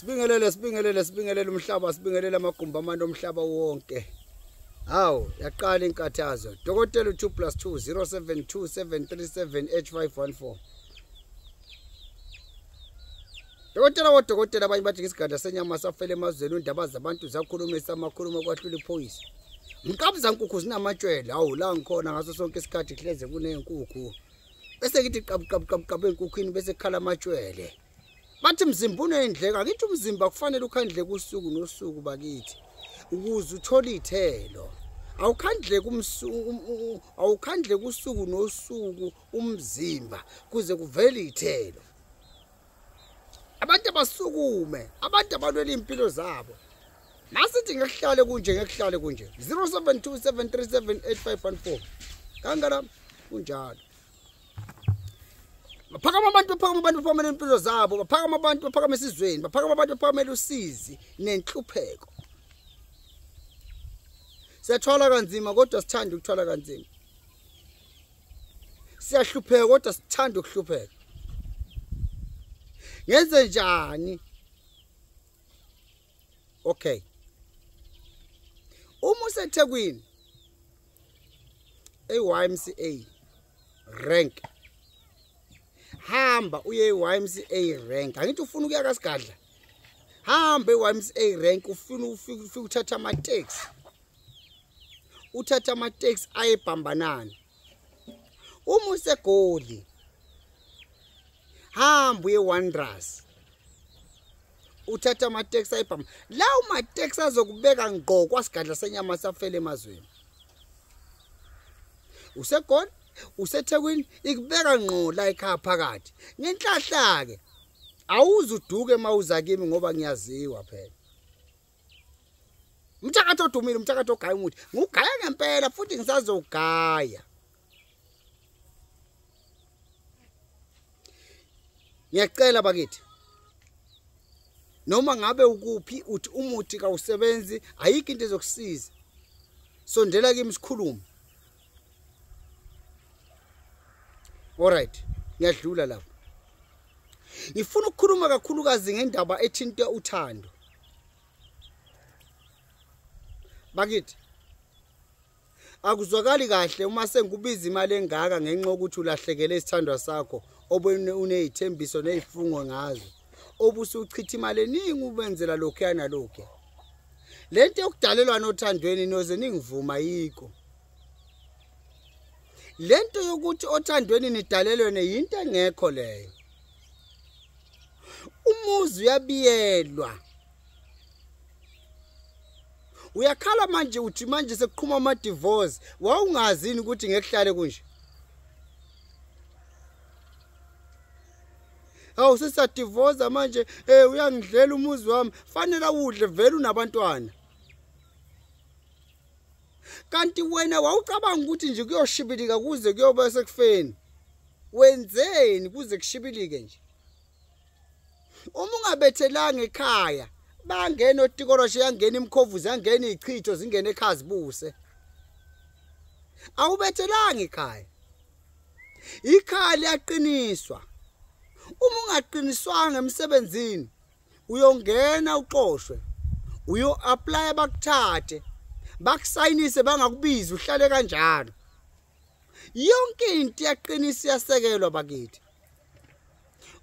sibingelele sibingelele sibingelele umhlaba sibingelele amagumbi amane omhlaba wonke hawu yaqala inkathazo dokotela u-2 plus 2 072 737 h 514 dokotela wodokotela abanye bathi ngesigadla senyama safele emazweni undaba zabantu zakhulumisa amakhulumo okwahlula iphoyisa mqabuzankukhu zinamatshwele hawu la ngikhona ngaso sonke isikhathi hleze kuney'nkukhu bese ngithi qabuqabuqabuqabu enkukhwini bese kukhala amatshwele bathi mzimba unendleka ngithi umzimba kufanele ukhandle kusuku nosuku bakithi ukuze uthole ithelo awukhandle kumsuku awukhandle kusuku nosuku umzimba kuze kuvele ithelo abantu abasukume abantu abalwela iy'mpilo zabo masithi ngekuhlale kunje ngekuhlale kunje 0727378514 kangala kunjalo baphakama abantu baphakama abantu baphakamela impilo zabo baphakama abantu baphakama esizweni baphakama abantu baphakamela usizi nenhlupheko siyathwala kanzima kodwa sithanda ukuthwala kanzima siyahlupheka kodwa sithanda ukuhlupheka ngenze njani okay uma usethekwini eYMCA rank hamba uye eYMCA rank angithi ufuna ukuya kasigadla hamba eYMCA rank ufuna ufike uthatha ama taxi uthatha amateksi ayebhambanana uma usegoli hamba uye wonders uthatha amateksi ayibhama lawo mateksi azokubeka ngqo kwasigadla senyama safele emazweni usegoli usethekwini ikubeka ngqo la ekhaya phakathi ngenhlahla-ke awuze uduke uma uza kimi ngoba ngiyaziwa phela umthakathi odumile umthakathi ogaya umuthi ngugaya ngempela futhi ngisazogaya ngiyacela bakithi noma ngabe ukuphi uthi umuthi kawusebenzi ayikho into ezokusiza sondela kimi sikhulume Alright, ngiyadlula lapho. Ngifuna ukukhuluma kakhulukazi ngendaba ethinta uthando. Bakithi akuzwakali kahle uma sengikubiza imali engaka ngenxa yokuthi ulahlekele isithandwa sakho obunezithembiso nezifungo ngazo obusuchitha imali eningi ubenzela lokho yana lokho le nto yokudalelwana othandweni noze ningivuma yiko le nto yokuthi othandweni nidalelwene yinto engekho leyo umuzi uyabiyelwa uyakhala manje uthi manje sekuqhuma ama-divorce wawungazini ukuthi ngekuhlale kunje awu sesadivoza manje um eh, uyangidlela umuzi wami fanele awudle vele unabantwana kanti wena wawucabanga ukuthi nje kuyoshibilika kuze kuyoba sekufeni wenzeni kuze kushibilike nje uma ungabethelanga ekhaya bangena otikoloshe yangena imkhovuzi yangena ichitho zingena ekhaya zibuse awubethelanga ekhaya ikhaya liyaqiniswa uma ungaqiniswanga emsebenzini uyongena uxoshwe uyo apply bakuthathe bakusayinise bangakubizi uhlale kanjalo yonke into yaqinisa iyasekelwa bakithi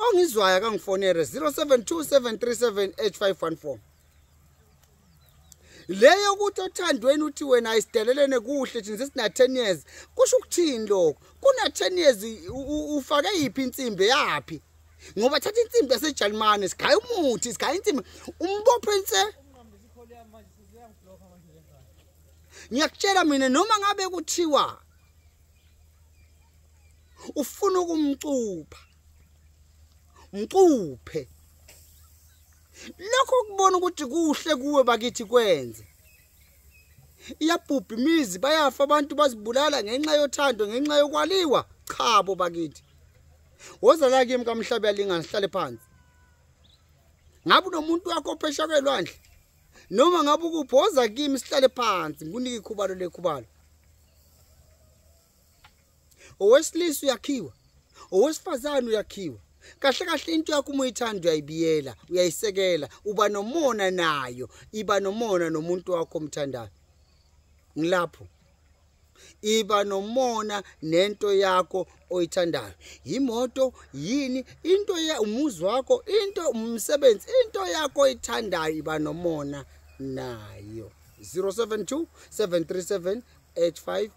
ongizwayo kangifonere 0727378514 leyo ukuthi othandweni uthi wena isidelelene kuhle thina sesina 10 years kusho ukuthini lokho kuna 10 years ufake yiphi insimbi yaphi ngoba thatha insimbi yaseJalimane sigaya umuthi sigaya insimbi umbopho ense ngiyakutshela mina noma ngabe kuthiwa ufuna ukumcupha mcuphe lokho kubona ukuthi kuhle kuwe bakithi kwenze iyabhubha imizi bayafa abantu bazibulala ngenxa yothando ngenxa yokwaliwa chabo bakithi woza la kimi kamhlabe yalingana sihlale phansi ngabe unomuntu wakho ophesha kwelwandle noma ngabe ukuphi woza kimi sihlale phansi ngikunike ikhubalo lekhubalo owesilisa uyakhiwa owesifazane uyakhiwa kahle kahle into yakho uma uyithanda uyayibiyela uyayisekela uba nomona nayo iba nomona nomuntu wakho omthandayo ngilapho iba nomona nento yakho oyithandayo yimoto yini into ya umuzi wakho into umsebenzi into yakho oyithandayo iba nomona nayo 072 737 85